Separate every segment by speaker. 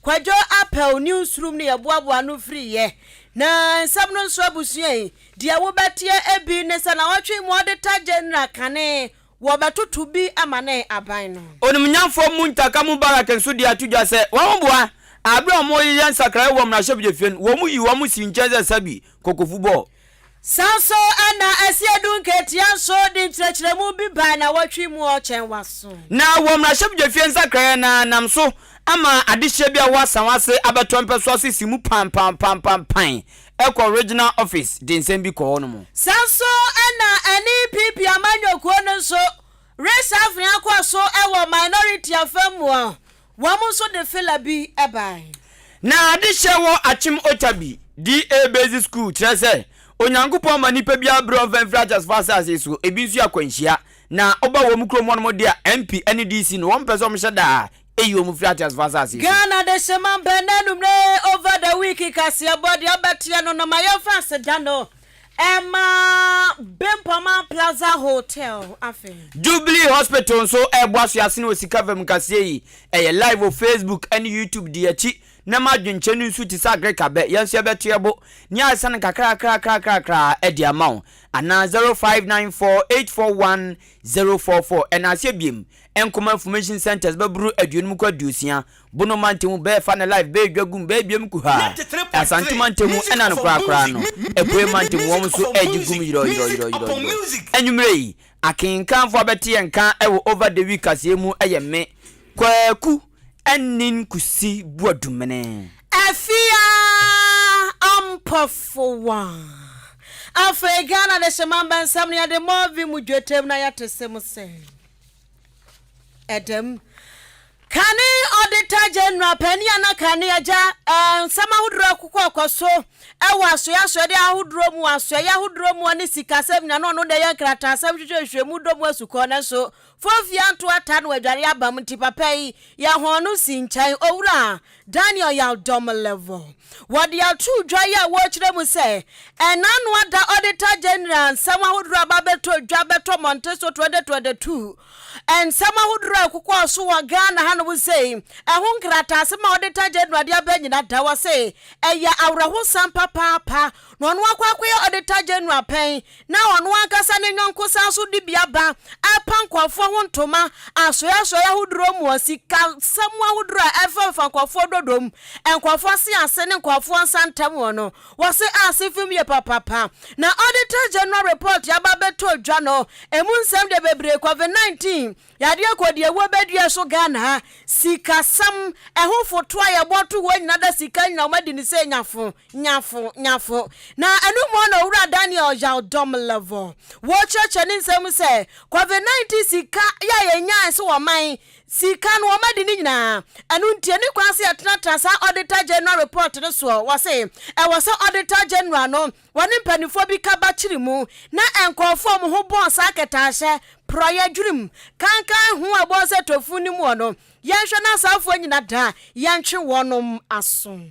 Speaker 1: Kwadwo apɛw ne nsurom no yɛboaboa ano firi yɛ na nsɛm no nso abusua yi deɛ wo bɛteɛ ebi ne sɛ nawɔtwe mu ɔdeta gyɛnra kane wɔ bɛtoto bi ama ne aban no. Onimnyamfoɔ Muntaka
Speaker 2: Mubarak nso de ato dwa sɛ wɔn ho boa a bere a wɔreyeyɛ nsakraeɛ wɔ mmarahyɛbedwafie no wɔn yi wɔn sii nkyɛn sɛ sɛbi kɔkɔfu bɔɔ. Saa nso
Speaker 1: na ɛsɛ yɛdu nkatia nso de nkyerɛkyerɛmu bi ba nnawɔtwe mu ɔkyɛn w'aso. Na wɔ mmarahyɛbdwafie
Speaker 2: nsakraeɛ no ara nam so ama adehyeɛ bi a ɛwɔ Asawase abɛtɔ mpɛsoa ase si mu pampampampampae ɛkɔ Regional Office de nsɛm bi kɔ hɔ nom. Saa nso
Speaker 1: na ɛne PP amanyɔkuo no nso resafre akɔ so wɔ Minority afam mu Wɔn nso de fila bi bae. Na adehyɛ
Speaker 2: wɔ Akyem Otabi DA Basic School kyerɛ sɛ Onyankopɔn ma nnipa biara bere a ɔmfa mfiri ateasefo asase so, ebi nso yɛ akwanhyia, na ɔba wɔn kurom hɔnom de a MP ne DC no wɔmpɛ sɛ wɔhyɛ da a eyi wɔn firi ateasefo asase so. Ghana Adehyemma
Speaker 1: Mpɛn Anummerɛ Over the Week Kaseɛbɔ Deɛ Ɔbɛteɛ No na Ma Yɛmfa Aseda No. Ɛma Bempama Plaza Hotel afɛ. Jubilee Hospital
Speaker 2: nso reboa so asene wɔ sika fam kaseɛ yi. Ɛyɛ live wɔ Facebook ne YouTube di akyi na ma adwenkyerɛ no nsu te sɛ agreka bɛ, yɛn nso yɛbɛto yɛ bo ne ayɛsa no kakrakrakrakrakra de ama wo. Anaa 0594841044 ɛna aseɛ biem. Nkoma Information Centres bɛboro aduonum kɔ aduosia Bono mantamu bɛɛfa ne life bɛɛ dwa gum bɛɛ biam kuhaa ɛ Asante mantamu ɛna no koraa koraa no Apuei mantamu wɔn nso ɛɛgye gum yirɔɔ yirɔɔ yirɔɔ yirɔɔ yirɔɔ Anwummerɛ yi akenkanfoɔ abɛte yɛn nka ɛwɔ over the week kaseɛ mu ɛyɛ me, Kwaku, Anin Kusi Boadumene. Afia
Speaker 1: Ampofowaa Afei Ghana Adehyeman Bɛnsɛm no yɛde Movi mu dwetɛm na yɛte se mo sɛ. Dɛm. Kane Auditor General Panyin a na Kane agya nsɛm ahodoɔ rekokɔ kɔ so wɔ asoɛe asoɛdeɛ ahodoɔ mu, asoɛe ahodoɔ mu ne sikasɛm nyinaa na ɔno na ɛyɛ nkrataasɛm hwehwɛ nhwehwɛmu dɔ mu asukɔ nanso Fofia nto ata na wadware abam nti papa yi yɛ hɔn no si nkyɛn owura Daniel Yaldomlevo. Wɔde ato dwa yi a wɔrekyerɛ mu sɛ ɛnanoa da Auditor General nsɛm ahodoɔ a aba abɛtɔ dwa bɛtɔ mmɔnten so 2022. Nsɛm ahodoɔ a ɛkokɔɔ so wɔ Ghana hanom sei, ɛho nkrataasɛm a Auditor General de aba nyina da hɔ se ɛyɛ awerɛhosɛm papaapa. na ɔno akɔ akɔyɛ Auditor General pɛn na ɔno ankasa ne yɔnko san so de bi aba ɛrepa nkorɔfoɔ ho ntoma asoɛe asoɛe ahodoɔ mu wɔ sikasɛm ahodoɔ a ɛfamfa nkorɔfoɔ dɔdɔ mu, nkorɔfoɔ ase ase ne nkorɔfoɔ nsa ntam wɔ no. Wɔse ase fam yie papapa na Auditor General Report aba abɛtɔ dwa no, ɛmu nsɛm deɛ bebree, Covid-19 Yadeɛ kɔ deɛ wɔ bɛ dua so Ghana ha sika sɛm ɛho foto a yɛbɔ to hɔ nyina da sika nyina wɔn adi no sɛ nyafo nyafo nyafo na ɛno mu na owura Daniel Yaw-Dɔm Levɔ wɔ kyerɛkyerɛ ne nsɛm mu sɛ covid 19 sika yɛ a yɛnyae so wɔ man sika no wɔn adi no nyinaa ɛno nti ɛni kwan sɛ yɛtenatena saa Auditor General report no soɔ wɔ se ɛwɔ sɛ Auditor General no Wɔne mpanimfoɔ bi ka ba kyiri mu na nkurɔfoɔ a wɔn ho bɔn saa kɛtɛahyɛ, porɔeɛ, dwenem, kankan ho a ɛbɔ sɛ tofu no muɔ no, yɛnhwɛ na asaafoɔ nyina da a yɛntwe wɔnom aso.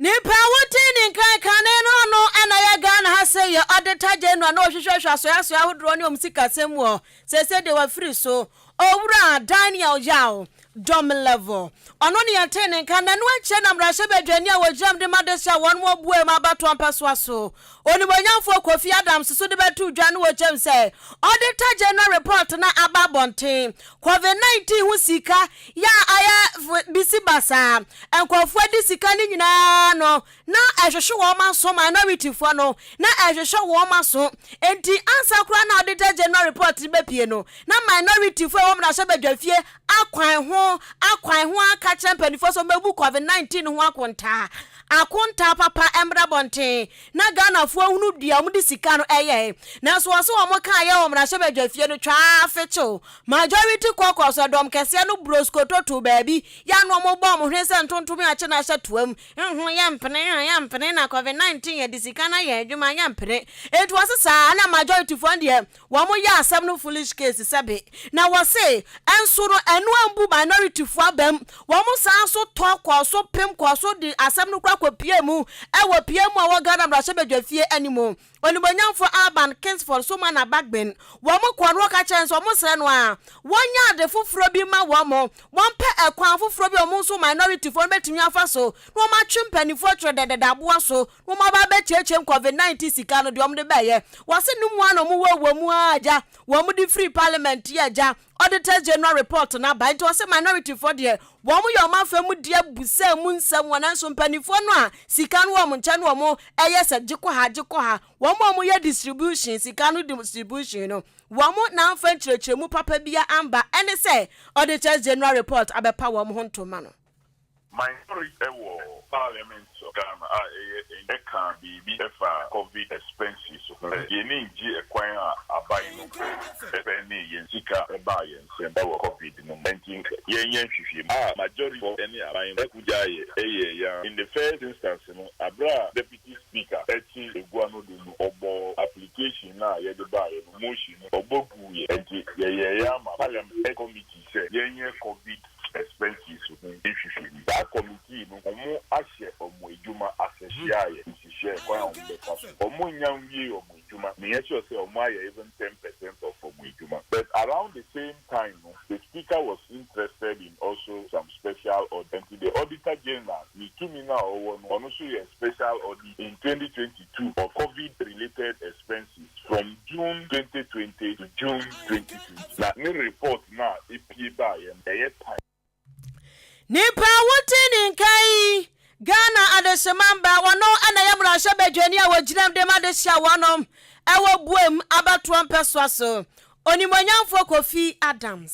Speaker 1: Nyimpa a wodzii ne nkan kan no no no na yɛ Ghana ha sɛ yɛ Auditor General na ɔhwehwɛ hwɛ asoɛasoɛ ahodoɔ ne ɔmo sikasɛm mu ɔ. Sɛsɛ deɛ wafiri so. Owura Daniel Yaw, Domlevo. Ɔno ne yɛtee ne nka nnanu akyire na mmarahyɛbadwani a wɔgyinam de ma adesua wɔnom ɔboaɛ mu abatoɔ mpɛsoa so. Onimuonyamfoɔ Kofi Adams so de bɛto dwa no wɔ gyam sɛ Auditor General Report no aba abɔnten. Covid 19 ho sika yɛ a ayɛ bisi basaa. Nkurɔfoɔ a ɛde sika no nyinaa no na ɛhwehwe wɔn aso, minorityfoɔ no na ɛhwehwɛ wɔn aso. Enti ansa koraa na Auditor General Report no bɛpue no na minorityfoɔ a ɛwɔ mmarahyɛbadwafie Akwan ho akwan ho aka akyerɛ mpanimfoɔ sɛ wɔmɛbu covid 19 ho akontaa. Akontaa papa mmra abɔnten na Ghanafoɔ ahunu dua wɔde sika no ɛyɛe. Nanso wɔse wɔn kaa yɛ wɔ mmarahyɛbadwa fie no twaa fekyew. Majority caucus ɛdɔm kɛseɛ no broskoto too baabi yɛ ano wɔn bɔɔ wɔn hwene sɛ ntontom yɛ akye no ahyɛ toam. Nho yɛ mpene nho yɛ mpene na covid 19 yɛde sika no ayɛ adwuma yɛ mpene. Enti wɔse saa na majorityfoɔ no deɛ Wɔn yɛ asɛm no foolish case sɛbe na wɔ se nso no ɛno ambu minority foɔ abam wɔn san so tɔ kɔɔ so pem kɔɔ so de asɛm no kora kɔ pie mu ɛwɔ pie mu ɛwɔ Ghana mmarahyɛbadwa fie anim onimuonyamfoɔ Alban Kingsford so ma na bagben wɔn kɔɔ no wɔka kyerɛ nso wɔn srɛ no a wɔnyɛ ade foforɔ bi ma wɔn wɔn pɛ ɛkwan foforɔ bi wɔn nso minority foɔ no bɛtumi afa so na wɔn atwe mpanimfoɔ twerɛ dɛdɛdɛ aboa so Wo mmabaa bɛkyeakyea covid 19 sika no deɛ wɔn de bɛyɛ. Wɔse no mu ara na wɔn wɔ wɔ mu ara gya. Wɔn de firi parliament yɛ gya. Auditors General report no aba. Nti wɔse minority foɔ deɛ wɔn yɛ wɔn afa mu deɛ bu sɛ mu nsɛm wɔ nanso mpanifoɔ no a sika no wɔ wɔn nkyɛn no wɔn ɛyɛ sɛ gye kɔ ha gye kɔ ha. Wɔn a wɔn yɛ distribution sika no distribution no wɔn na amfa nkyerɛkyerɛmu papa bia amba ɛne sɛ Auditors General report abɛpa wɔn ho ntoma no. Minority
Speaker 3: wɔ parliament of Ghana a ɛyɛ NG ɛkaa biribi ɛfaa covid expenses ho sɛ yɛni ngye ɛkwan a aban no mpo ɛspɛndee yɛn sika ɛbaa yɛn nsam ɛwɔ covid no mu ɛnti nka yɛn nyɛ nhwehwɛmu a majority fɔ ɛne aban no ɛko gyaa yɛ ɛyɛɛ yɛn ara in the first instance no aberɛ a deputy speaker ɛte agua no do no ɔbɔɔ application no a yɛde baa yɛ no motion no ɔbɔ guu yɛ ɛnti yɛyɛɛ yɛ ama parliament committee sɛ yɛn nyɛ covid expenses ho nhwehwɛmu. Saa kɔmitii no wɔn ahyɛ wɔn adwuma ase hyeaeɛ nhyehyɛɛ kwan a wɔn bɛfa so. Wɔn nnya nwiee wɔn adwuma, na yɛ sure sɛ wɔn ayɛ even ten percent of wɔn adwuma. But around the same time no the speaker was interested in also some special audit nti the auditor general ne tumi no a ɔwɔ no ɔno nso yɛɛ special audit in twenty twenty. to on Covid related expenses from June twenty twenty to June twenty twenty na ne report no a epue baeɛ no ɛyɛ time.
Speaker 1: Nipa a wote ne nka yi, Ghana Adesemamba, wɔno na ɛyɛ mmarahyɛbadwani a wɔgyinam de ma de hyɛ wɔnom wɔ boam abatoɔ mpɛsoa so. Onimuonyamfoɔ Kofi Adams.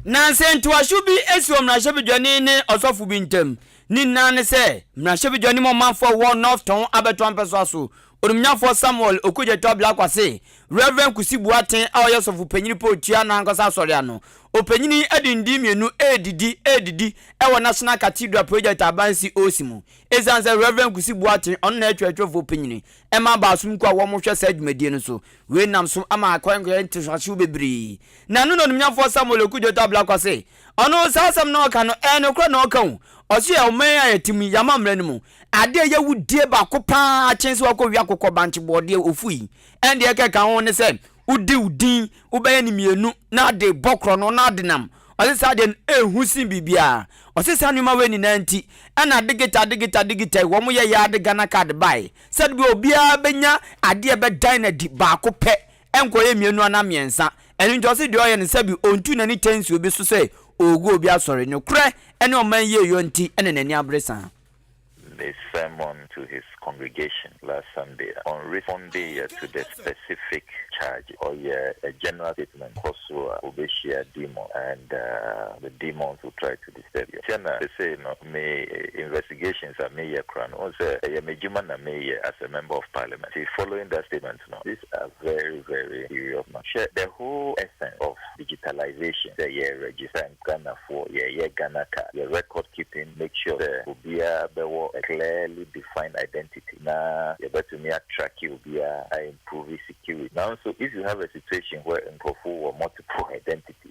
Speaker 1: Nanse
Speaker 2: ntoaso bi si wɔ mmarahyɛbedwani ne ɔsɔfo bi ntam. Ne nyinaa ne sɛ, mmarahyɛbedwani ma ɔmanfoɔ a wɔwɔ North Tɔn abɛto ampɛsoa so. Onimnyafoɔ Samuel Okudzeto Ablakwa se, Rev. Kusi Boateng a ɔyɛ ɔsɔfo panyin pa otua n'ankasa asɔre ano. Ɔpanyin yi de nde mmienu redidi redidi wɔ National Cathedral Project a abansi osi mu. Esiane sɛ Rev. Kusi Boateng, ɔno na ɛyɛ twerɛtwerɛfoɔ panyin, ma abaasom kuo a wɔhwɛ saa dwumadie no so, Wei nam so ama akwankyerɛ ntotoaso bebree. Na ɛno na onimnyamfoɔ Samuel Oku Dwotɔ Ablakwa se, Ɔno, saa asɛm no a ɔka no, ɛyɛ nokorɛ na ɔka o. Ɔse yɛn ɔman a yɛte mu yi, yɛama mmara no mu, adeɛ a ɛyɛ awudie baako pa ara kyen sɛ woakɔwe akokɔ bankye bɔɔdeɛ, ofu yi. Ɛnde deɛ ɛka ɛka ho ne sɛ wode wo din, wobɛyɛ no mmienu na ade bɔ korɔno na ade nam. Ɔse saa deɛ no, ɛhu sen biribiara. Ɔse saa nneɛma wei nyinaa nti, ɛna Digita Digita Digita yi, wɔyɛeɛ ara de Ghana card baeɛ. Sɛdeɛbɛyɛ a obiara bɛnya adeɛ a ɛbɛdan no adi baako pɛ, ɛnkɔyɛ mmienu anaa mmiɛnsa. Ɛno nti ɔse deɛ ɔyɛ no sɛbi ɔntu n'ani tɛ nsi obi so sɛ ɔregu obi asɔre. Nokorɛ ne ɔman yie yɔ nti na n'ani abere saa. the
Speaker 4: sermon to his congregation last Sunday a ɔnrespondeyɛ to the specific charges. Ɔyɛ a general statement, kɔ soro a wobɛhyia demons and the demons will try to. adi sɛ deɛ ntia na sesei no me investigations a meyɛ koraa no wohu sɛ ɛyɛ m'adwuma na meyɛ as a member of parliament nti following that statement no these are very very serious matters hwɛ the whole essence of digitalisation sɛ yɛ register Ghanafoɔ yɛyɛ Ghana card yɛ record keeping make sure sɛ obiara bɛwɔ a clearly defined identity na yɛbɛtumi a tracke obiara a improve security nanso if you have a situation where nkurɔfoɔ wɔ multiple identities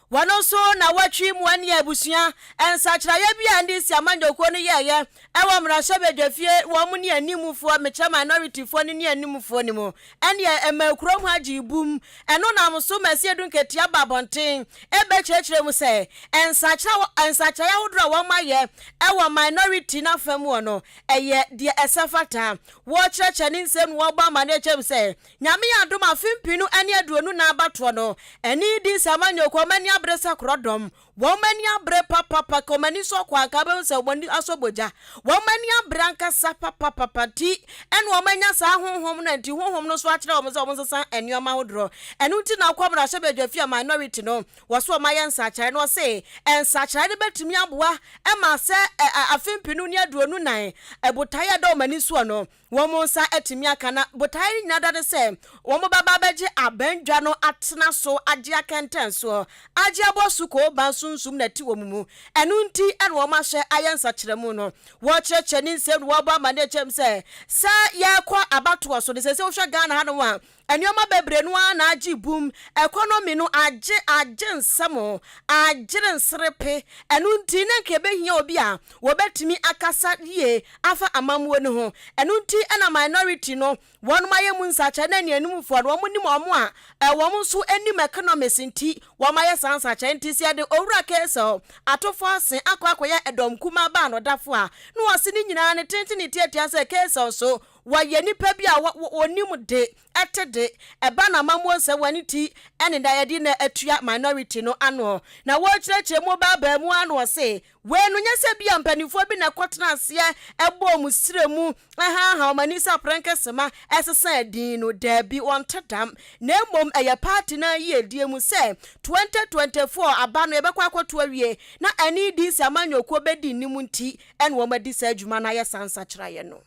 Speaker 1: Wɔno nso na wɔtwi mmoa nni abusua. Nsakyeraeɛ bi a NDC amanyɔkuo no yɛɛeɛ wɔ mmarahyɛbadwafie wɔn mu ne animfoɔ, mekyerɛ minority foɔ no ne animfoɔ no mu, ɛneɛ ɛmaa kurom ha gyee bum. Ɛno nam so ma Asiedu Nketeɛ baa abɔnten bɛkyerɛkyerɛɛ mu sɛ nsakyera nsakyeraeɛ ahodoɔ a wɔn ayɛ wɔ minority no afa mu hɔ no ɛyɛ deɛ ɛsɛ fata. Wɔkyerɛkyerɛ ne nsɛm na wɔbɔ amanneɛ kyerɛ mu sɛ Nyame yɛ adom afe mpenu ɛne aduonu nan abatoɔ no ani di nsɛ ama nyɛ ɔkɔ ɔmo ani abere sɛ korɔdɔm wɔn ani abere papapa ka ɔmo ani sɔ kɔ anka wobɛhu sɛ ɔmo ani asɔ bogya wɔn ani abere ankasa papapapa nti ɛna ɔmo anya saa honhom no nti honhom no nso akyerɛ ɔmo sɛ ɔmo nsesa nnoɔma ahodoɔ ɛno nti na ɔkɔ mmarahyɛ badwa fie a minority no wɔ so ɔmo ayɛ nsakyeraɛ no ɔse nsakyeraɛ no bɛtumi aboa ɛma sɛ afe mpenu ne aduonu nan ɛbotaeɛ a ɛda ɔmo ani soɔ no Wɔn nsa atumi aka na botaeɛ no nyinaa da ne sɛ wɔbɛba abɛgye aban dwa no atena so agye akɛntɛnsoɔ, agye abɔ sukoo ban sunsum na ɛte wɔn mu. Ɛno nti na wɔahyɛ ayɛ nsakyeramu no. Wɔkyerɛkyerɛ ne nsɛm no wɔbɔ amanneɛ kyerɛ mu sɛ, sɛ yɛrekɔ abatoɔ so no, sɛ sɛ wohwɛ Ghana hanom a, Nneɛma bebree no ara na agye boom, economy no agye, agye nsam, agyere nserepe, ɛno nti na nka ɛbɛhia obi a wɔbɛtumi akasa yie afa amammuo no ho. Ɛno nti na minority no wɔnom ayɛ mu nsakyeraɛ na anianimfoɔ no wɔn nim wɔn a wɔn nso nim economics nti wɔn ayɛ saa nsakyeraɛ nti sɛ yɛde Owura Kaysel Atofo-Asen akɔ akɔyɛ ɛdɔm kumaa baa no dafo a na ɔse ne nyinaa no tenten ne tiatia sɛ Kaysel so Wɔyɛ nnipa bi a wɔnim de ɛte de ɛba n'amammuo nsɛm wɔ ne ti ne na ɛde na atua minority no ano na wɔrekyerɛkyerɛ mu baa baa mu ara na ɔse wei no nyɛ sɛ bi a mpanimfoɔ bi na ɛkɔ tena aseɛ ɛbɔ wɔn srɛ mu ɛhaaha wɔn ani sɛ aprɛnkɛ sema ɛsesa din no daabi wɔnte dam na mmom ɛyɛ party no ayiedie mu sɛ 2024 aba no yɛbɛkɔ akɔto awie na ɛne DC amanyɔkuo bɛdi nnim nti ɛna wɔn adi saa adwuma no ayɛ saa nsakyeraeɛ no.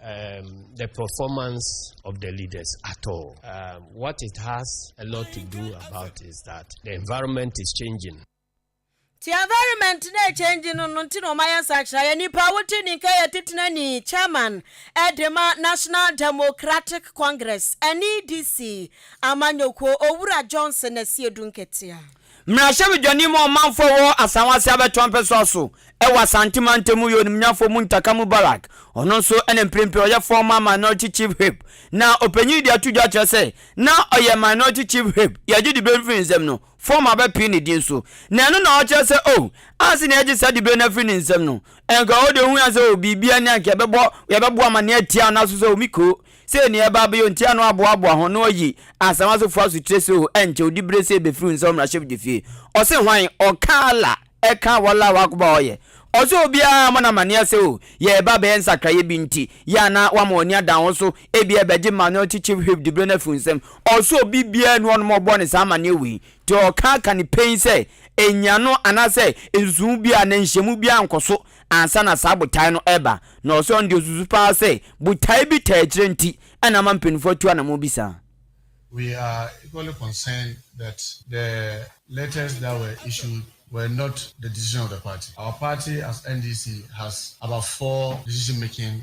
Speaker 5: the performance of the leaders at all. Um, what it has a lot to do about is that the environment is changing. ti
Speaker 1: environment na ɛkyɛngye no no nti na ɔmayɛ nsakyera yɛ nipa wote ni nka yɛ tetena ni chairman ɛdema national democratic congress nedc amanyɔkuo owura johnson asiedu nketea Mmarahyɛbedwani
Speaker 2: mu ɔmanfoɔ wɔ Asanwase abɛtoa mpɛsoa so wɔ Asante mantam mu yɛ onimnyafoɔ Muntaka Mubarak. Ɔno nso na mprempren ɔyɛ former Minority Chief Whip. Na ɔpanyin yi de ato dwa akyerɛ sɛ na ɔyɛ Minority Chief Whip, yɛgye dibre no firi ne nsam no, former bɛpee ne din so. Na ɛno na ɔkyerɛ sɛ oh, anse na yɛgye saa dibre no afiri ne nsam no, nka ɔde ohuu anse oh, biribi ni anka yɛbɛbɔ, yɛbɛbɔ amanneɛ atia no nanso sɛ oh, me kuro, Sei ne ɛba bio nti a na wɔaboaboa ho na wɔayi Asamasefo asotire so o, ɛnkyɛ wo dibre sei bɛfiri wo nsa wɔ mmarahyɛbadwa fie. Ɔse hwan? Ɔka Allah ɛka Wallahu Akbar ɔyɛ. Ɔse obiara mmɔ no amaneɛ sɛ o, yɛreba bɛyɛ nsakraeɛ bi nti, yɛ a na woama w'ani ada wo so, ebia ɛbɛgye Minority Chief Whip dibre no afiri wo nsam. Ɔse obi biara nni hɔ nom a ɔbɔɔ no saa amaneɛ wei. Nti ɔka aka ne pɛn sɛ, ɛnnya no anaasɛ nsusuwho biara anaa nhyiamu biara nkɔ so Ansa na saa botae no reba no, ɔsɛ sɛ ɔno deɛ ɔsusu paa sɛ botae bi taa akyire nti na ama mpaninfoɔ atu anamɔn bi saa. We
Speaker 6: are equally concerned that the letters that were issued were not the decision of the party. Our party as NDC has about four decision making.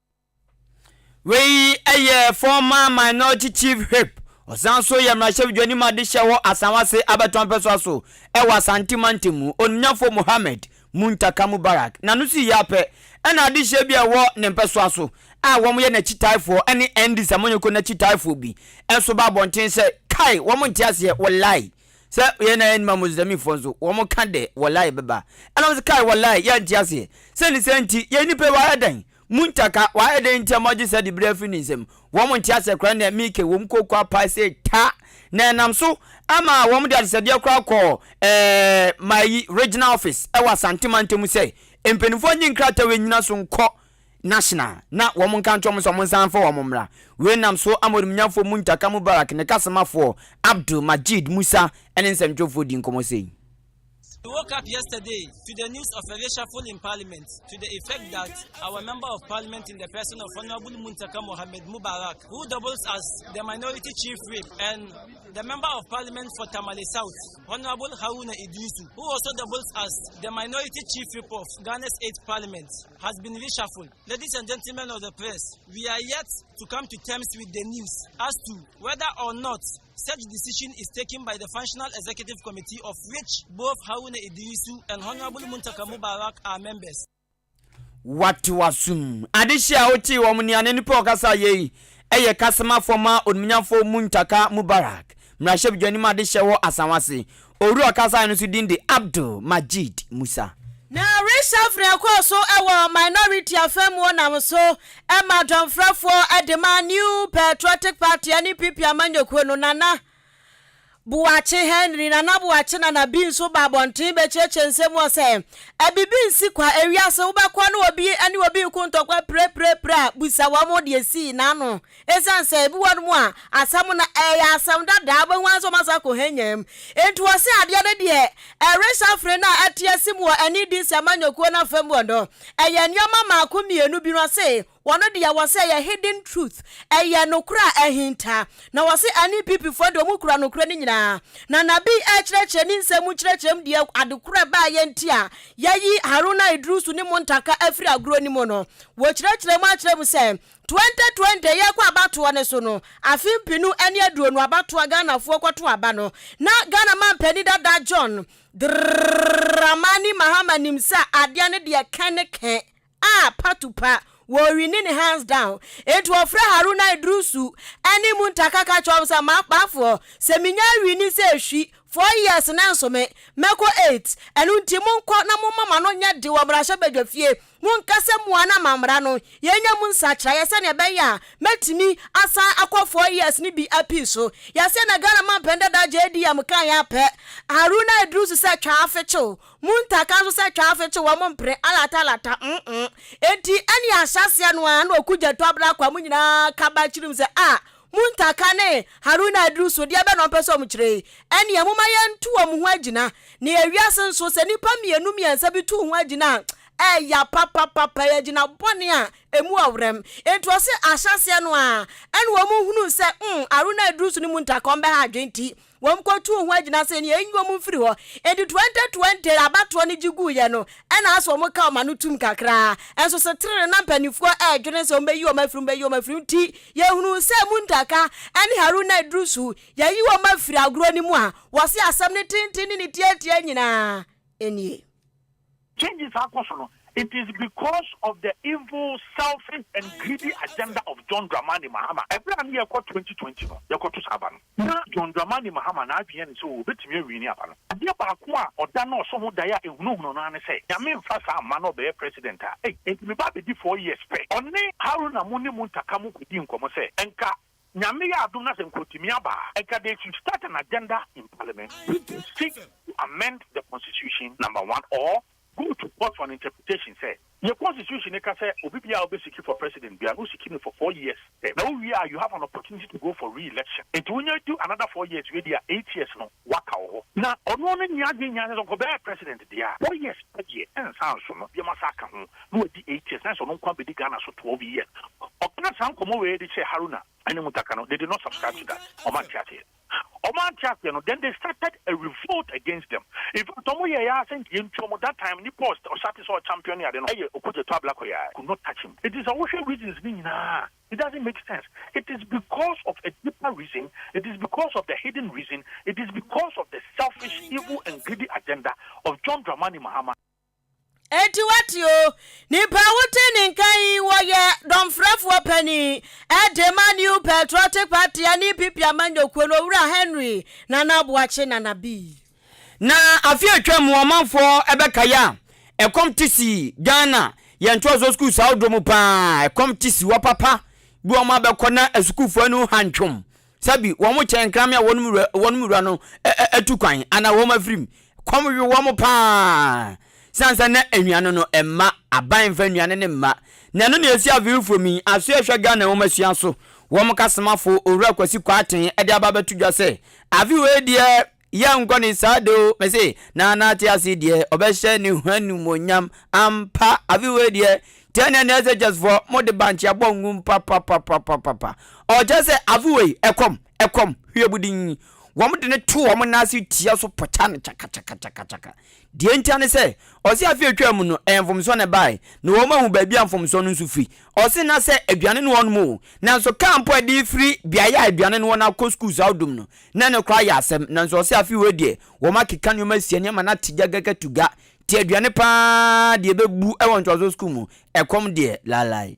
Speaker 2: Wei yɛ former minority chief whip, ɔsan nso yɛ mmarahyɛbadwani mu adehyɛ wɔ Asawase abatoɔ mpɛsoa so wɔ Asante mantam mu, Onuafoɔ Mohammed Muntaka Mubarak, na no sii yɛ apɛ na adehyɛ bi a ɛwɔ ne mpɛsoa so a wɔyɛ n'akyitaafoɔ ne Ndis amanyɔkuo no akyitaafoɔ bi nso ba abɔnten sɛ, Kae, wɔn nte aseɛ, wallahi. Sɛ yɛn na yɛn ma Muslimfoɔ nso, wɔn ka dɛ, Wallahi bɛba. Ɛna wɔn se, Kai, Wallahi, yɛnte aseɛ. Sɛ ne saa nti, yɛn nipa yi wayɛ dɛn? Muntaka, wayɛ dɛn nti a moagye saa dibere afiri ne nsam? Wɔn nte aseɛ koraa nea Mika wɔ mu kookoo paa sɛ ta, na ɛnam so ma wɔn de adesɛdeɛ koraa kɔɔ eh, Mayi Regional Office ɛwɔ Asante Mantam sɛ mpanimfoɔ nye nkrataa wei nnyina so nkɔ National, na wɔn nka nkyerɛ wɔn sɛ wɔn nsan mfa wɔn mmra. Wei nam so ama ɔdemnyamfoɔ Muntaka Mubarak ne kasomafoɔ Abdul Majeed Musa ne nsɛntwerɛfoɔ di nkɔmmɔ sei. He woke
Speaker 7: up yesterday to the news of a reshuffle in parliament to the effect that our member of parliament in the person of Honorable Muntaka Mohammed Mubarak, who doubles as the minority chief whip, and the member of parliament for Tamale South, Honorable Haruna Iddrisu, who also doubles as the minority chief whip of Ghana's eighth parliament. has been reshuffled. Ladies and gentlemen of the press, we are yet to come to terms with the news as to whether or not such decision is taken by the Functional Executive Committee of which both Haruna Idrisu and Honorable Muntaka Mubarak are members.
Speaker 2: Wate wasum. Adehye a wote wɔn nea ne nipa ɔkasa yɛ yi yɛ kasamafoɔ ma onimnyamfoɔ Muntaka Mubarak Mmarahyɛbedwani mu adehyɛ wɔ Asawase. Owura a ɔkasae no nso din de Abdul Majeed Musa. Na reshuffle
Speaker 1: ɛkɔɔ so wɔ minority afa mu nam so ma dɔmfrɛfoɔ de maa New Patriotic Party ne PP amanyɔkuo no Nana Boakye Henry Nana Boakye Nana bi nso baa abɔnten bɛkyerɛkyerɛ nsɛm mu hɔ sɛ bibi nsi kwa ewiase wobɛkɔ ne obi ne obi reko ntɔkwa pirepirepire a busa wɔn deɛ esii n'ano Esiane sɛ ebi wɔ no mu a asɛm no ɛyɛ asɛm dada a wobɛhu ara sɛ wɔasan akɔ hɛnyaa mu nti wɔse adeɛ no deɛ ɛrehyɛ afene no a ɛte ase mu wɔ ɛne di nsɛmma nnwokuo no afa mu hɔ no ɛyɛ nneɛma mmaako mmienu bi no ɔse wɔn deɛ wɔse ɛyɛ hidden truth ɛyɛ nokorɛ a ahinta na wɔse NEPP foɔ deɛ wɔn kura nokorɛ no nyinaa na Nabi ɛrekyerɛkyerɛ ne nsɛm mu nkyerɛkyerɛ mu deɛ adekorɔ a ɛbaeɛ nti a yɛayi Haruna Idrisu ne Muntaka afiri agorɔ no mu no wɔkyerɛkyerɛ mu akyerɛ mu sɛ Twenty twenty yɛkɔ abatoɔ no so no, afe mpenu ne aduonu abatoɔ Ghanafoɔ kɔto aba no, na Ghana manpanin dada John Dramani Mahama nim sɛ adeɛ no deɛ kɛ ne kɛ a patupa, wɔrewini ne hands down. Enti ɔfrɛ Haruna Iddrisu ne Muntah Ka ka kyerɛ wɔn sɛ m'akpaafoɔ, sɛ menya awini sɛ ɛhwi, four years nanso me, mɛkɔ eight, ɛno nti monkɔ na momma m'ano nyɛ de wɔ mmarahyɛbadwafie. Monka sɛ, Moa na mammra no, yɛnya mu nsakyeraeɛ sɛdeɛ ɛbɛyɛ a mɛtumi asan akɔ four years no bi apii so. Yɛaseɛ na Ghana mampɛn dada JDM kaa yɛn apɛ. Haruna Iddrisu sɛ twa afe kyew. Muntaka nso sɛ twa afe kyew wɔn mpene. Alata lata mm-mm. Enti ɛne ahyɛaseɛ no ara na Okudzeto Abrakwa mo nyinaa ka ba kyirim sɛ ah Muntaka ne Haruna Iddrisu, deɛ bɛn na wɔpɛ sɛ wɔkyerɛ yi? Ɛnneɛ momma yɛnto wɔn ho agyina, na ewiase nso, sɛ nnipa mmienu mmiɛnsa bi to ho agyina a, ɛya papapapa, ɛyɛ agyina bɔne a ɛmu ɔwerɛm. Enti wɔse ahyɛaseɛ no ara, ɛnna wɔhunuu sɛ, mm, Haruna Iddrisu ne Muntaka, wɔbɛha adwene nti, Wɔn kɔ tuu ho agyina sɛ nea enyi wɔn mfiri hɔ. Enti twenty twenty abatoɔ no gye guiɛ no, ɛna asɛ wɔn ka wɔn ano tum kakraa. Nso setere no na mpaninfoɔ ɛredwene sɛ wɔn bɛyi wɔn afiri mu bɛyi wɔn afiri mu. Nti yɛhunuu sɛ Muntaka ɛne Haruna Iddrisu yɛyi wɔn afiri agorɔ no mu a, wɔse asɛm no tenten ne ne tiatia nyinaa nie. Changes
Speaker 8: akɔ
Speaker 1: so no, it
Speaker 8: is because of the evil, selfish and greedy agenda of John Dramani Mahama. Ɛberɛ a na yɛrekɔ twenty twenty no, yɛkɔto saa aba no. Na John Dramani Mahama n'adwene yɛ no sɛ ɔbɛtumi awini aba no. Adeɛ baako a ɔda no ɔso ho daeɛ a ɛhunahuna no ara ne sɛ, Nyame mfa saa mma na ɔbɛyɛ President a, ei, enti meba abɛdi four years pɛ. Ɔne Haruna mo ne Muntaka mo kɔdii nkɔmmɔ sɛ, nka Nyame yɛ adom na sɛ nka ɔtumi aba a, nka they should start an agenda in parliament which will seek to amend the constitution number one or go to court for an interpretation sɛ yɛ constitution no ka sɛ obi biaa ɔbɛ siki for president biaa no wo siki no for four years pɛ na wo wie a you have an opportunity to go for re-election nti wo nya du another four years wie deɛ a eight years no waka wɔ hɔ na ɔno no nni adwene nyinaa sɛ sɛ ɔkɔ bɛyɛ president deɛ a four years pɛ deɛ ɛnsa nso no deɛ masa aka ho. na wadi eight years, na ɛsɛ sɛ ɔno nko ara bedi Ghana so twelve years. Ɔkaa saa nkɔmmɔ wei de kyerɛɛ Haruna ne Muntaka no, they did not subscribe to that, wɔante aseɛ. Wɔante aseɛ no, then they started a revolt against them. In fact, wɔyɛeɛ ara sɛ nka yɛntu wɔn. That time, nnipa a ɔhyɛ ase sɛ ɔchampion ne ade no yɛ Okudzeto Ablakwa, I could not touch him. Enti sɛ wohwɛ reasons no nyinaa a, it doesn't make sense. It is because of a deeper reason, it is because of the hidden reason, it is because of the selfish, evil and greedy agenda of John Dramani Mahama. Enti
Speaker 1: wate o, nipa a wote ne nka yi wɔyɛ dɔmfrɛfoɔ panin de ma New Patriotic Party ne EPP amanyɔkuo no Owura Henry Nana Aboakye Nana Bi. Na
Speaker 2: afe a atwam ɔmanfoɔ bɛkae a ɛkɔm te si Ghana yɛn ntoasoɔ sukuus ahodoɔ mu pa ara, ɛkɔm te si hɔ papa bi wɔn abɛkɔ na asukuufoɔ ani ho antwom. Sɛ bi wɔn kyɛ nkrame a wɔn wura wɔn wura no atu kwan anaa wɔn afirim. Kɔm we wɔn paa. San sɛ na nnuane no mma aban mfa nnuane no mma. Na ɛno na ɛsi Avefoɔ mu yi, aso ɛhwɛ Ghana nwomasua so. Wɔn kasomafo Owura Kwasi Kwarteng de aba abɛto dwa sɛ, Ave wei deɛ Yɛnkɔ ne saa de o, mese, na n'ate ase deɛ, ɔbɛhyɛ ne ho animuonyam. Ampa, afe wei deɛ, Tiania ne SHS foɔ, mo de bankye abɔ ngum papapapapapa. Ɔkyerɛ sɛ afe wei, ɛkɔm, ɛkɔm, hwiebudinn. Wɔn de no to wɔn nan ase tia so pɔkya no kyakakyakakyakakyaka. Deɛ ntia ne sɛ, ɔse afe a ɛtwaa mu no, ɛyɛ mfomsoɔ na ɛbaeɛ, na wɔahu baabi a mfomsoɔ no nso firi. Ɔse na sɛ aduane no wɔ nom o, nanso kaa mpo a ɛde refiri beaeɛ a aduane no wɔ no akɔ sukuu saa odum no, na ɛno koraa yɛ asɛm. Nanso ɔse afe wei deɛ, wɔakeka nneɛma asia ne ama no ate gagagatuga. Te aduane pa ara deɛ ɛbɛbu wɔ ntoasoɔ sukuu mu, ɛkɔm deɛ, laalae.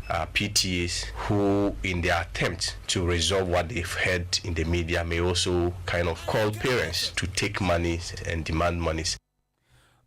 Speaker 9: are PTAs who in their attempt to resolve what they've heard in the media may also kind of call parents to take monies and demand monies.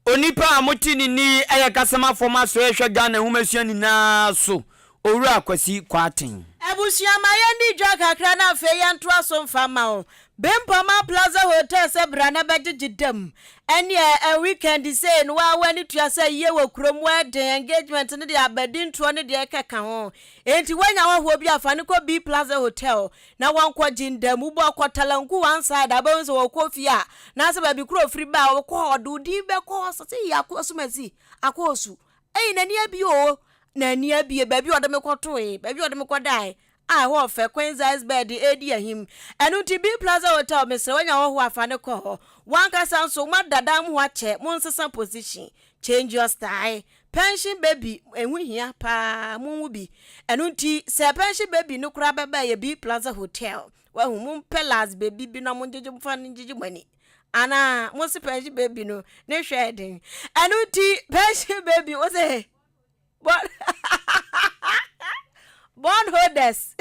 Speaker 9: Onipa
Speaker 2: a mote ne nne yi yɛ Kasamafo Masoɛ Ɛhwɛ Ghana Nhomasua Nyinaa So, Owura Kwasi Kwarteng. Abusua ma yɛndi
Speaker 1: dwa kakra na afei yɛntoa so mfa mma wo. Bempama Plaza Hotel sɛ bra na bɛgyegye dam. Ɛneɛ ɛn weekend sei no woa w'ani tua sɛ ayie wɔ kurom, wedding, engagement ne deɛ abadintoɔ ne deɛ ɛkeka ho. Enti woanya hɔhoɔ bi a fa no kɔ B Plaza Hotel na wɔnkɔgye ndam. Wobɔ kɔ Talanku one side a wobɛhu sɛ wɔkɔ fie a anaasɛ baabi korɔ ofiri ba a wɔkɔ hɔ ɔde wo din bɛkɔ hɔ sɛ eii Ako Asumasi, Ako Osu, eii n'ani abie oo, n'ani abie, baabi a ɔde me kɔtoe, baabi a ɔde me kɔdae, a ɛhɔ yɛ fɛ, Queen's Iceberg de redi ahim. Ɛno nti, Bee Plaza Hotel, mesrɛ wo, nya hɔhoɔ a, fa no kɔ hɔ. W'ankasa nso, woma dada mu hɔ akyɛ, monsesa position. Change your style. Pension baby, ɛho hia pa ara, monwo bi. Ɛno nti, sɛ pension baby no koraa bɛba a, ɛyɛ Bee Plaza Hotel. Woahu, mompɛ last baby bi na mongyegye, momfa no ngyegye moani. Anaa, mose pension baby no, ne hwɛ yɛ den. Ɛno nti, pension baby, wose. Bond holders.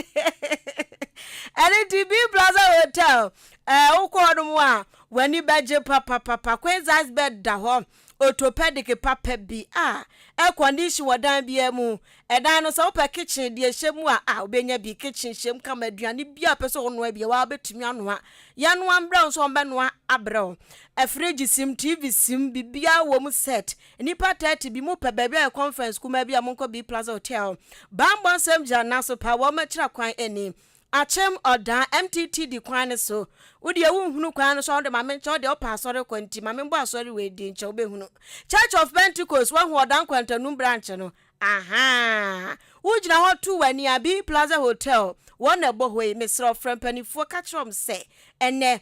Speaker 1: Ɛno nti B Plaza Hotel ɛɛ eh, wokɔ hɔ nom a w'ani bɛgye papapapa. Queen size bed da hɔ orthopedic papa bi a air condition wɔ dan biara mu. Ɛdan no sɛ wopɛ kitchen deɛ hyɛ mu a a wobɛnya bi kitchen hyɛ mu kama aduane bi a pɛ sɛ ɔnoa bi a wabɛtumi anoa. Yɛnoa mbrɛ wo nso wɔbɛnoa abrɛ wo. Afirigye sim, TV sim, biribiara wɔ mu set. Nnipa thirty bi mo pɛ baabi ayɛ conference kumaa bi a monkɔ B Plaza Hotel. Bammɔ nsɛm gyina nna so paa, wɔakyira kwan ani. Akyem, Ɔdaa, MTT di kwan no so. Wo deɛ wonhunu kwan no so a wo de ma menkyɛ wo deɛ wopɛ asɔre kɔ nti ma menbɔ asɔre wei din kyɛ wobɛhunu. Church of Pentecost, woahu Ɔdaa Nkwantanum branch no? Ahaa! Wogyina hɔ to w'ani a, B Plaza Hotel, wɔn na ɛbɔ hɔ yi. Mesrɛ wo frɛ mpaninfoɔ ka kyerɛ wɔn sɛ ɛnnɛ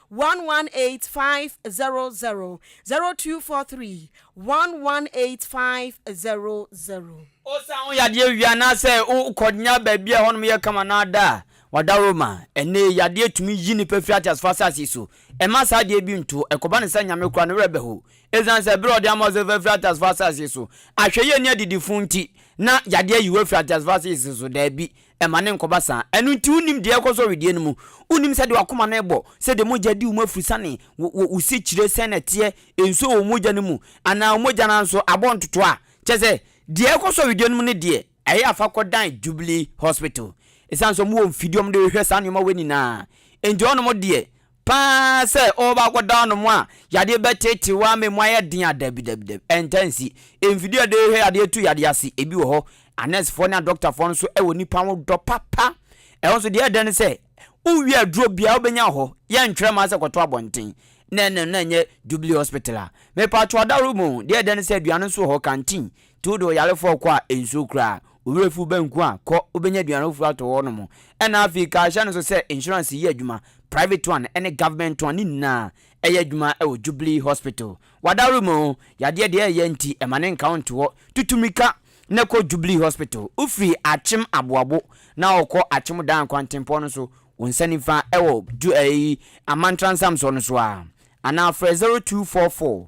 Speaker 1: one one eight five zero zero zero two four three one one
Speaker 2: eight five zero zero. Osian wo yadeɛ wie anaasɛ wo kɔnya baabi a ɛhɔnom yɛ kama na ada a, wadaworo ma. Ɛnnɛ yi, yadeɛ tumi yi nipa firi ateasefoɔ asase yi so. Mma saa adeɛ bi nto. Ɛkɔba no sɛ nyame koraa ne werɛ bɛho. Esiane sɛ bere a ɔde ama wo sɛ fa firi ateasefoɔ asase yi so, ahwɛyie ne adidifo nti, na yadeɛ ayi wo afiri ateasefoɔ asase yi so. Daabi, Mma no nkɔba saa. Ɛno nti wonnim deɛ ɛrekɔ so wɔ wedeɛ no mu. Wonnim sɛdeɛ w'akoma no rebɔ, sɛdeɛ mogya di wo mu afurusane, wo, wo, wo sekyire sɛn na ɛteɛ, nsuo wɔ wo mogya no mu, anaa wo mogya no ara nso abɔ ntotoɔ a. Kyerɛ sɛ, deɛ ɛrekɔ so wɔ wedeɛ no mu no deɛ, ɛyɛ a fa kɔdan Jubilee Hospital. Ɛsiane sɛ wɔwɔ mfidie a wɔde hwehwɛ saa nneɛma wei nyinaa nti, hɔnom deɛ, Paa sɛ ɔɔba akɔda ɔno mo a yadeɛ bɛteetee wo amɛ mu ayɛ den a, dabi dabi dabi, ɛntaa nsi. Mfidie a ɛdehwɛ yadeɛ tu yadeɛ ase, ebi wɔ hɔ, anɛɛsefoɔ ne adɔktafoɔ no so wɔ nnipa ho dɔ papa. Ɛhɔ nso deɛ ɛyɛ dɛ ne sɛ, wowie aduro biara wobɛnya wɔ hɔ, yɛntwerɛ mma sɛ kɔto abɔnten, na ɛno na ɛnyɛ Jubilee Hospital a. Mepatwo adaworo mu o, deɛ ɛyɛ dɛ ne sɛ aduane nso wɔ hɔ, canteen, Tow de ɔyarefoɔ kɔ a nsuro koraa, wo werɛ fi wo ba nku a, kɔ, wobɛnya aduane foforɔ atɔ hɔ nom. Ɛna afei ka hyɛ no so sɛ insurance yɛ adwuma, private one ne government one ne nyinaa ɛyɛ adwuma wɔ Jubilee Hospital. W'adaworo mu yadeɛ deɛ ɛyɛ nti ma ne nka wo nto hɔ, tutu mirika na kɔ Jubilee Hospital. Wofiri Akyem Aboabo na wokɔ Akyem Dan kwantempɔn no so wo nsa nifa wɔ Ju ɛyi Amantra Nsamsoɔ no so a, anaa frɛ 0244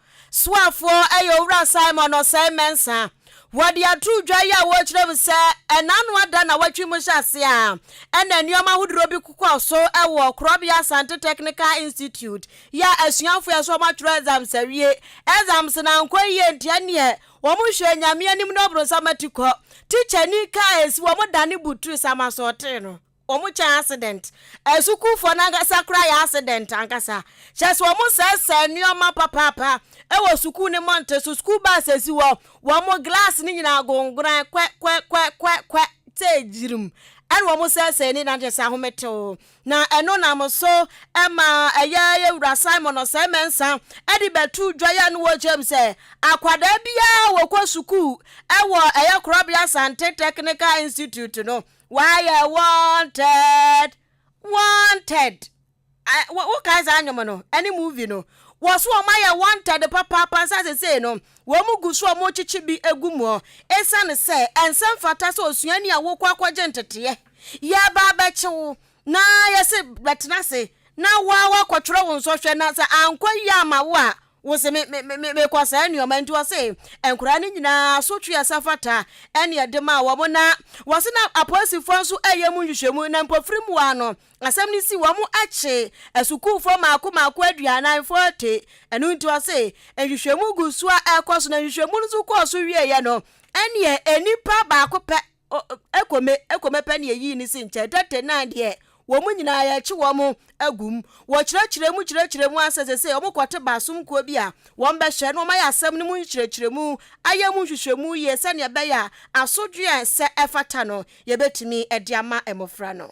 Speaker 1: Soafoɔ yɛ Owura Simon Ɔsɛe Mensah. Wɔde ato dwa yi a wɔrekyerɛ mu sɛ ɛnaano ada na wɔtwe mu hyɛ ase a ɛna nneɛma ahodoɔ bi kɔɔ so wɔ Korɔbea Asante Technical Institute yi a asuafoɔ a ɛsɛ wɔatwerɛ exams awie exams no ankɔ yie nti ɛneɛ wɔhwɛɛ Nyame anim na ɔbronsam ati kɔ. Tikyani kaa a ɛsi wɔn dane Beatrice Amasɔɔtee no. Wɔn kyɛn accident. Asukuufoɔ no ankasa koraa yɛ accident ankasa. Kyerɛ sɛ wɔn sɛesɛe nnoɔma papaapa wɔ sukuu no mmɔnten so, school bus asi hɔ, wɔn glass no nyinaa agongoran kwɛ kwɛ kwɛ kwɛ kwɛ sɛ gyirim na wɔn sɛesɛe ne nyinaa kyerɛ sɛ ahometew. Na ɛno nam so ma ɛyɛ yɛ wura Simon Osei Mensah de bɛto dwa yɛ no wɔ kyerɛm sɛ akwadaa biara a wɔkɔ sukuu wɔ ɛyɛ Korɔbea Asante Technical Institute no Wayɛ wanted wanted I, wo wo kan saa nnwom no ɛne movie no wɔ so wɔn ayɛ wanted papaapa nsa sesei no wɔn mu gu so wɔn rekyekye bi egu mu esiane sɛ ɛnsɛ mfata sɛ osuani a wokɔ akɔgye nteteɛ yɛba abɛkye wo na yɛse bɛtena ase na woa wakɔtwerɛ wo nsɔhwɛ na sɛ ankɔ yie ama wo a Wose me me me me mekɔ saa nnuama nti ɔse nkwadaa no nyinaa asotwe a ɛsɛ fata ɛne ɛde maa wɔn na wɔse na apolisifoɔ nso reyɛ mu nhwehwɛmu na mpofirim hɔ ara no asɛm no si wɔn akye asukuufoɔ maako maako aduanan, forty, ɛno nti ɔse nhwehwɛmu gu so a ɛrekɔ so na nhwehwɛmu no nso kɔɔ so wieeɛ no ɛneɛ nnipa baako pɛ O, ɛkɔ me, ɛkɔ mɛpɛ nea yii ne si nkyɛ date nan deɛ, wɔn nyinaa yɛkye wɔn agu mu, wɔkyerɛkyerɛ mu kyerɛkyerɛ mu ara sɛ sesei wɔkɔte baasom kuo bi a wɔbɛhwɛ na wɔayɛ asɛm no mu nkyerɛkyerɛmu, ayɛ mu nhwehwɛmu yie sɛdeɛ ɛbɛyɛ a asodwoeɛ a ɛsɛ ɛfata no yɛbɛtumi de ama mmɔfra no.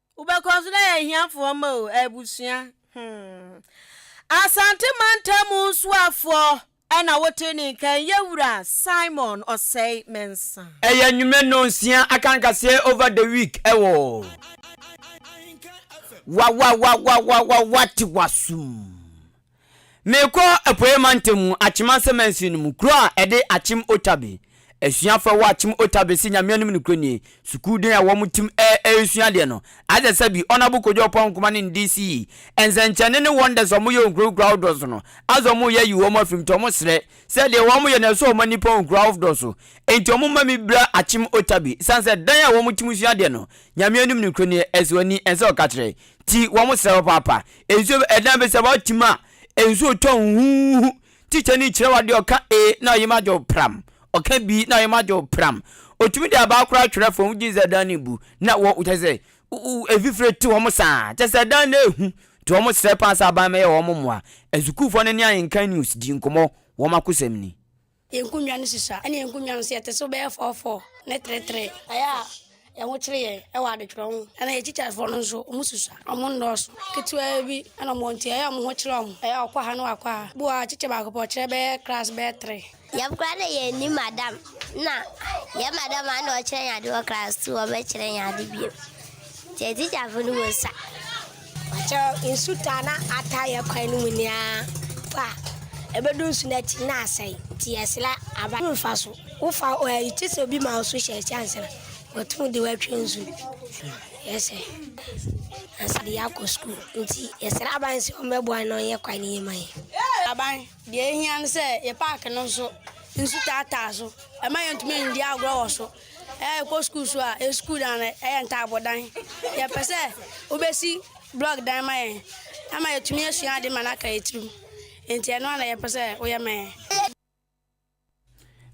Speaker 10: Wobɛkɔ nso na yɛ ahiafoɔ ma o, abusua. Hmm.
Speaker 1: Asante mantam nsuafoɔ ɛna wote ne nka ɛnyɛ wura Simon ɔsɛe Mensah. Ɛyɛ nnwuma no
Speaker 2: nsia akankaseɛ over the week ɛwɔ Wawawawawawawawate wasum. Merekɔ Apueeɛ Mantam mu, Akyem Ansa Mansin no mu, kuro a ɛde Akyem Otabe, asuafo a ɛwɔ Akyem Otabe se Nyame anim no kuro nie. Sukuu den a wɔn tim ɛ ɛresua adeɛ no, Aza Sabi, Honourable Kojo Oppong Nkrumah ne ne DC. Nsɛnkyerɛnne ne wonders a wɔn yɛ wɔ nkuro nkuro ahodoɔ so no, Aza wɔn reyɛ ayi wɔn afiri mu nti wɔn srɛ sɛ deɛ wɔn yɛ no ɛsɔ wɔn ani pa wɔ nkuro ahodoɔ so enti wɔn mma me bira Akyem Otabe, ɛsiane sɛ dan a wɔn tim sua adeɛ no, Nyame anim no kuro nie, ɛsɔ ani, ɛnsɛ ɔka kyerɛ. Ti wɔn srɛ hɔ paapa. Nsuo bɛ ɛdan bɛ sɛ wɔte mu a nsuo tɔ huhuuhu. Tikya ni kyerɛ w'adeɛ ɔka A na ɔyem agye wo pram. Ɔka B na ɔyem agye wo pram. Ɔtumi de abaa koraa twerɛ fam wogye sɛ ɛdan no ɛbu na wɔ kyɛ sɛ ɛfifire te wɔn saa. Kyɛ sɛ ɛdan no ɛhu nti wɔn srɛ paa sɛ aban mɛyɛ wɔn mmoa. Asukuufoɔ no ne Ahenkan News dii nkɔmmɔ wɔn akosɛm ni. Yɛn nkonnwa no
Speaker 11: susua, ɛnna yɛn nkonnwa no nso, yɛte so bɛyɛ fɔɔfɔɔ ne teretere. Ɛyɛ a yɛn ho kyere yɛn wɔ adetwerɛ ho. Ɛnna yɛn tikyafoɔ no nso, wɔsusua. Wɔnnɔɔso. Ketewaa bi na wɔwɔ nti, ɛyɛ a wɔn ho kyere wɔn. Ɛyɛ a ɔkɔ ha na wakɔ ha. Bi wɔ hɔ a, tikya baako pɛ, ɔkyerɛ bɛyɛ klaase bɛyɛ tere. Yɛn koraa na yɛnni
Speaker 12: madam, na yɛn madam a na ɔkyerɛ yɛn ade wɔ klaase tu hɔ bɛkyerɛ yɛn ade bio. Deɛ tikyafoɔ no wɔ sa. Ɔkyɛ
Speaker 11: nsu taa na ataa yɛ kwan no mu nyinaa fa a, ɛbɛdu nsu no akyi na asɛe, nti yɛsrɛ aba no mfa so. Wofa ɛyi te sɛ obi ma wo so hyɛ ɛkyɛ ansa na wɔtum de wɔatwa nsu no. Yɛsɛ ansa de yɛakɔ sukuu nti yɛsrɛ aban sɛ ɔmmɛboa na ɔnyɛ kwan no yie ma yɛn. Aban, deɛ ɛhia ne sɛ yɛ paake no nso nsu taataa so, ɛma yɛntumi ndi agorɔ wɔ so. Yɛkɔ sukuu nso a, yɛn sukuu dan no yɛ ntaabodan. Yɛpɛ sɛ wobɛsi blɔk dan ma yɛn ama yɛatumi asua ade ma no aka yɛn tirim. Enti ɛno ara na yɛpɛ sɛ woyɛ ma yɛn.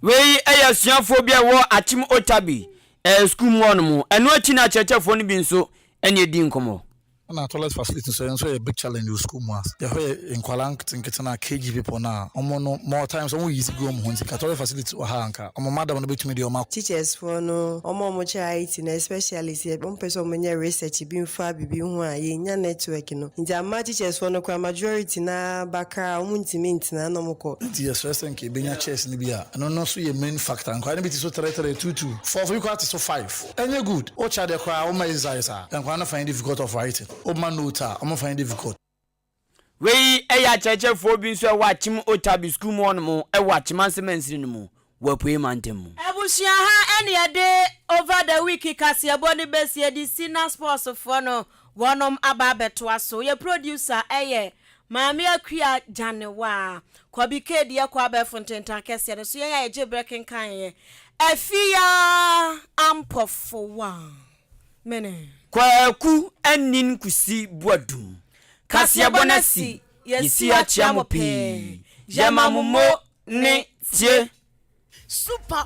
Speaker 2: Wei yɛ asuafoɔ bi a ɛwɔ Akyem Otabil sukuu mu hɔnom. Ɛno akyi na akyerɛkyerɛfoɔ no bi nso ne ɛdi nkɔmmɔ. Ɛna toilet facility
Speaker 13: nso ɛnso ɛyɛ big challenge wɔ school mu a yɛhɔ yɛ nkwadaa nketenkete no a KG people no a wɔn no more times wɔn yizi gu wɔn ho nti nka toilet facility wɔ ha a nka wɔn madam no bɛtumi de wɔn akɔ. Teachers foɔ no
Speaker 14: wɔn a wɔkyerɛ IT no especially sɛ wɔn pɛ sɛ wɔn nyɛ research bi nfa biribi ho a yɛn nya network no nti ama teachers foɔ no koraa majority no ara bakra a wɔn ntumi ntena na wɔn kɔ. Nti yɛsrɛ sɛ nka yɛbɛnya
Speaker 13: chairs no bi a ɛno no nso yɛ main factor nkwadaa no bi te so three three two two four four bi koraa te so five. Ɛnyɛ good. Wo kya deɛ koraa wo mma Israel saa. Nkwadaa no find it difficult of writing. Wo mma note a wɔn find it difficult. Wei
Speaker 2: yɛ akyerɛkyerɛfoɔ bi nso wɔ Akyem Otabil sukuu mu hɔnom wɔ Akyemansem mansini no mu wɔ Apuei Mantam mu. Abusua ha
Speaker 1: ɛna yɛde Over the week kaseɛbɔ no bɛsie de si na sports foɔ no wɔnom aba abɛtoa so. Yɛ producer yɛ Maame Akua Gyanewaa, Kwabi Kedi Akua abɛɛfo ntentan kɛseɛ no so yɛn a yɛgye berɛ kenkan yɛ Afia Ampɔfowa. Mene. Kwaku
Speaker 2: Anin Kusi Boadum, Kaseɛbɔ no asi, yɛsi akyea mo pii, yɛma mo mo ne tie. Super